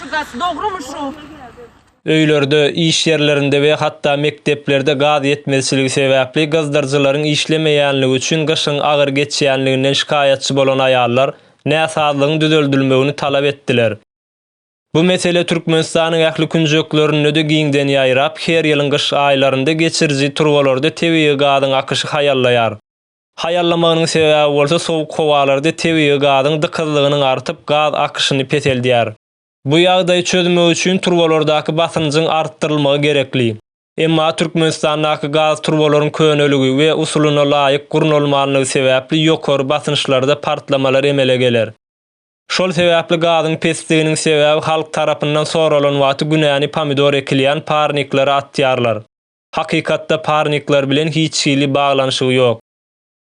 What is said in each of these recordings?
Şu zat dogrymy şu. Öýlerde, iş ýerlerinde we hatda mekdeplerde gaz ýetmezçiligi sebäpli gyzdyryjylaryň işlemeýänligi üçin gyşyň agyr geçýänliginden şikaýatçy bolan aýallar näsazlygyň düzeldilmegini talap etdiler. Bu mesele Türkmenistanyň ähli künjeklerinde-de giňden ýaýrap, her ýylyň gyş aýlarynda geçiriji turbalarda tebigy gazyň akyşy haýallaýar. Haýallamagynyň sebäbi bolsa sowuk howalarda tebigy gazyň dykyzlygynyň artyp, gaz akyşyny peseldýär. Bu ýagdaýy çözmek üçin turbalardaky basynjyň artdyrylmagy gerekli. Emma Türkmenistandaky gaz turbalaryň köneligi we usulyna laýyk gurnalmanlygy sebäpli ýokary basynçlarda partlamalar emele geler. Şol sebäpli gazyň pesdiginiň sebäbi halk tarapyndan soralan wagty günäni pomidor ekilýän parniklere atýarlar. hakykatda parnikler bilen hiç hili baglanyşygy ýok.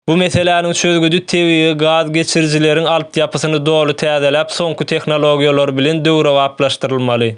Bu meseläniň çözgüdi tebigy gaz geçirijileriň altyapysyny doly täzeläp soňky tehnologiýalar bilen döwrebaplaşdyrylmaly.